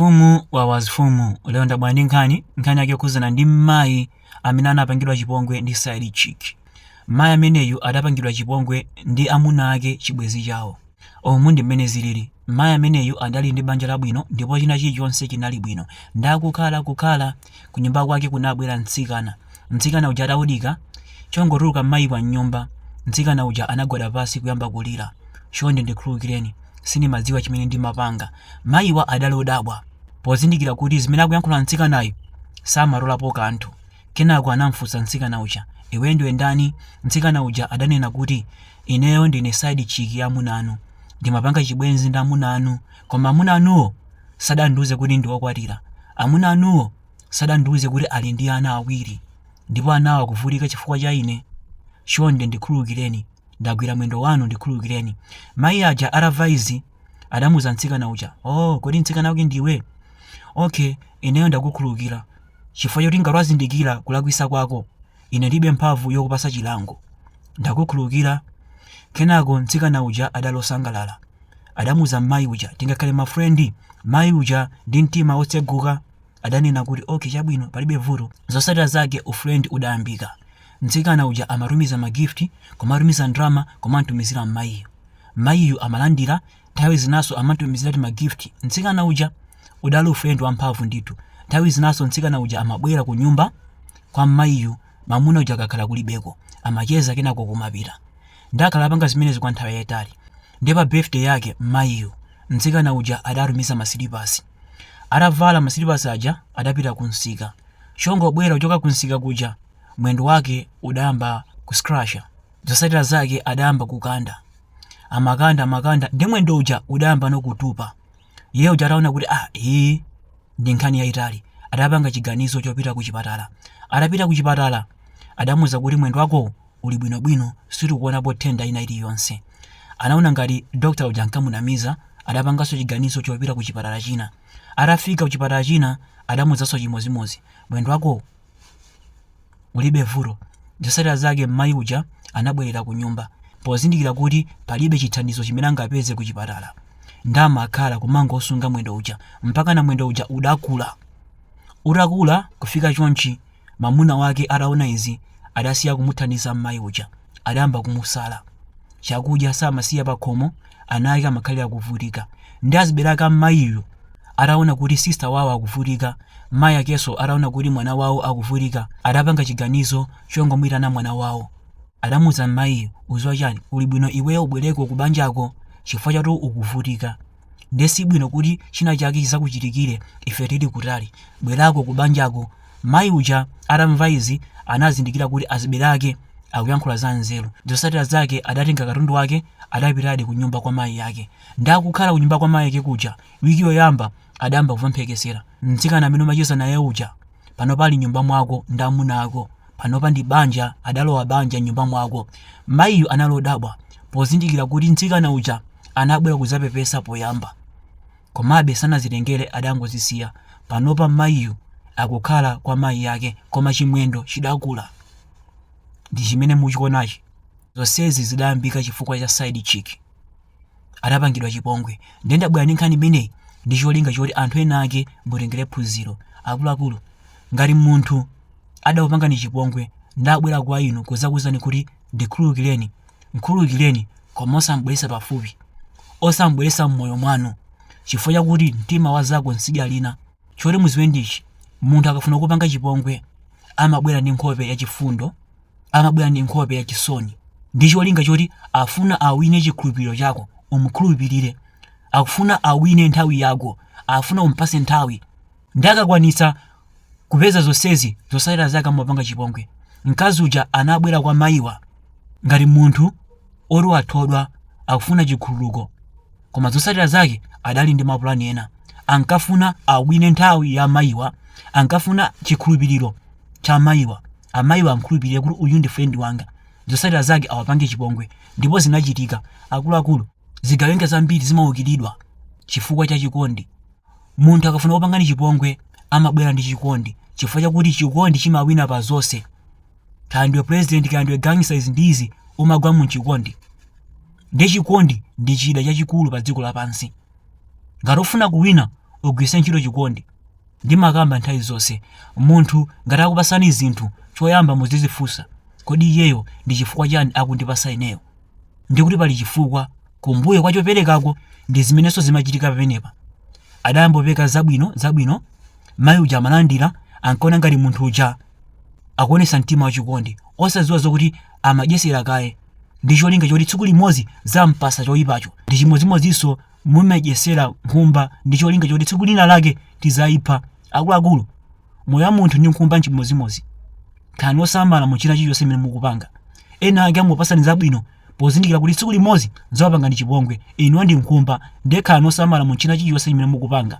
Mfumu wawa Mfumu lero ndabwera ndi nkhani nkhani yake yokhudzana ndi mayi amene anapangidwa chipongwe ndi side chick mayi ameneyu adapangidwa chipongwe ndi amuna ake chibwenzi chawo umu ndi mmene zilili mayi ameneyu adali ndi banja labwino ndipo china chilichonse chinali bwino ndakukhala kukhala kunyumba kwake kunabwera mtsikana Mtsikana uja atawodika chongotuluka m'mayi wa m'nyumba, mtsikana uja anagwada pansi kuyamba kulira. Chonde ndikhululukireni, sindimadziwa chimene ndimapanga. Mayiwa adali odabwa pozindikira kuti zimene akuyankhula mtsikanayu samatolapo kanthu. Kenako anamfunsa mtsikana uja, Iweyo ndiwe ndani? Mtsikana uja adanena kuti, Ineyo ndine side chick ya amuna anu. Ndimapanga chibwenzi ndi amuna anu koma amuna anuwo sadandiuze kuti ndi okwatira. Amuna anuwo. Sadandiuze kuti ali ndi ana awiri ndipo anawo akuvutika chifukwa cha ine. Chonde ndikhululukireni. Ndagwira mwendo wanu ndikhululukireni. Mayi aja atamva izi adamuuza mtsikana uja, Ooo kodi mtsikana wake ndiwe? Ok ineyo ndakukhululukira chifukwa choti ngati wazindikira kulakwisa kwako ine ndilibe mphamvu yokupasa chilango. Ndakukhululukira. Kenako mtsikana uja adali wosangalala. Adamuuza mmayi uja tingakhale ma friend? Mayi uja ndi mtima wotseguka. adanena kuti ok chabwino palibe vuto zotsatira zake ufriend udayambika mtsikana uja amatumiza ma gift kumatumiza ndrama kumamutumizira mmayiyo mmayiyu amalandira nthawi zinaso amamutumizira ti ma gift mtsikana uja udali ufriend wamphamvu ndithu nthawi zinaso mtsikana uja amabwera ku nyumba kwa mmayiyu mamuna uja akakhala kulibeko amacheza kenako kumapita ndamakhala akupanga zimenezi kwa nthawi yayitali ndi pa birthday yake mmayiyu mtsikana uja adatumiza masilipasi Atavala masilipasi aja adapita kumsika. Chongobwera kuchoka kumsika kuja, mwendo wake udayamba kuscratcha. Zotsatira zake adayamba kukanda. Amakanda amakanda ndi mwendo uja udayambano kutupa. Iye uja ataona kuti ah, iyi ndi nkhani yayitali, adapanga chiganizo chopita kuchipatala. Atapita kuchipatala adamuuza kuti mwendo wakowo uli bwino bwino sitikuonapo nthenda ina iliyonse anaona ngati doctor uja ankamunamiza adapanganso chiganizo chopita ku chipatala china atafika ku chipatala china adamuuzanso chimozimozi mwendo wakowo ulibe vuto zotsatira zake mmayi uja anabwerera ku nyumba pozindikira kuti palibe chithandizo chimene angapeze ku chipatala ndamakhala kumangosunga mwendo uja mpakana mwendo uja udakula utakula kufika chonchi Mamuna wake ataona izi adasiya kumuthandiza m'mayi uja. Adayamba kumusala. Chakudya samasiya pakhomo, ana ake amakhalira kuvutika. Ndi azibale ake m'mayiyu ataona kuti sister wawo akuvutika, mayi akenso ataona kuti mwana wawo akuvutika, adapanga chiganizo chongomuitana mwana wawo. Adamuuza m'mayiyu, uziwa chani, kuli bwino iweyo ubwereko kubanjako chifukwa chotu ukuvutika. Ndiye si bwino kuti china chake chizakuchitikire ife tili kutali. Bwerako ku banjako. Mayi uja atamva izi anazindikira kuti azibere ake akuyankhula za nzeru. Zosatira zake adatenga katundu wake adapitadi ku nyumba kwa mayi ake. Ndiye akukhala ku nyumba kwa mayi ake kuja, wiki yoyamba adayamba kumva mphekesera. Mtsikana amene umacheza naye uja. panopa ali mnyumba mwako ndi amuna ako panopa ndi banja adalowa banja mnyumba mwako mayiyu anali odabwa pozindikira kuti mtsikana uja anabwera kuzapepesa poyamba komabe sanazitengere adangozisiya panopa mayiyu akukhala kwa mayi yake koma chimwendo chidakula ndi chimene muchionachi zonsezi zidayambika chifukwa cha side chick adapangidwa chipongwe ndiye ndabwera ndi nkhani imeneyi ndi cholinga choti anthu ena ake mutengere phunziro akuluakulu ngati munthu adakupangani chipongwe nabwera kwa inu kuzakuwuzani kuti ndikhululukireni mkhululukireni koma osambweresa pafupi osambweresa mmoyo mwanu chifukwa chakuti mtima wa zako nsidya lina choti muziwe ndichi munthu akafuna kupanga chipongwe amabwera ndi nkhope yachifundo amabwera ndi nkhope ya chisoni ndi cholinga choti afuna awine chikhulupiriro chako umkhulupirire akufuna awine nthawi yako afuna umpase nthawi ndiye akakwanisa kupeza zonsezi zosatira zake amapanga chipongwe mkazi uja anabwera kwa mayiwa ngati munthu oti wathodwa akufuna chikhululuko koma zosatira zake adali ndi mapulani ena ankafuna awine nthawi ya mayiwa ankafuna chikhulupiriro cha mayiwa Amayiwa amkhulupirire kuti uyu ndi friend wanga zosatira zake awapange chipongwe ndipo zinachitika. Akuluakulu, zigawenga zambiri zimaukiridwa chifukwa cha chikondi. Munthu akafuna kupanga chipongwe amabwera ndi chikondi chifukwa chakuti chikondi chimawina pa zonse. Kaya ndiwe president kaya ndiwe gangster izi ndi izi umagwa mu chikondi. Ndiye chikondi ndi chida chachikulu pa dziko lapansi. Ngati ufuna kuwina ugwise ntchito chikondi. Ndimakamba nthawi zonse, munthu ngati akupasani zinthu, choyamba muzizifunsa, kodi iyeyo ndi chifukwa chani akundipasa ineyo? Ndikuti pali chifukwa kumbuyo kwa choperekako ndi zimenenso zimachitika pamenepa. Adayambopereka zabwino zabwino, mayi uja amalandira, ankaona ngati munthu uja akuonesa mtima wachikondi, osaziwa zokuti amadyesera kaye ndi cholinga choti tsiku limodzi azampase choipacho. Ndi chimodzimodzinso Mumadyesera nkhumba ndi cholinga choti tsiku lina lake tizaipha. Akuluakulu, moyo wa munthu ndi nkhumba n'chimodzimodzi. Khalani osamala mu china chilichonse chimene mukupanga. Ena ake amakupasani zabwino pozindikira kuti tsiku limodzi azakupangani chipongwe. Inuyo ndi nkhumba, ndiye khalani osamala mu china chilichonse chimene mukupanga.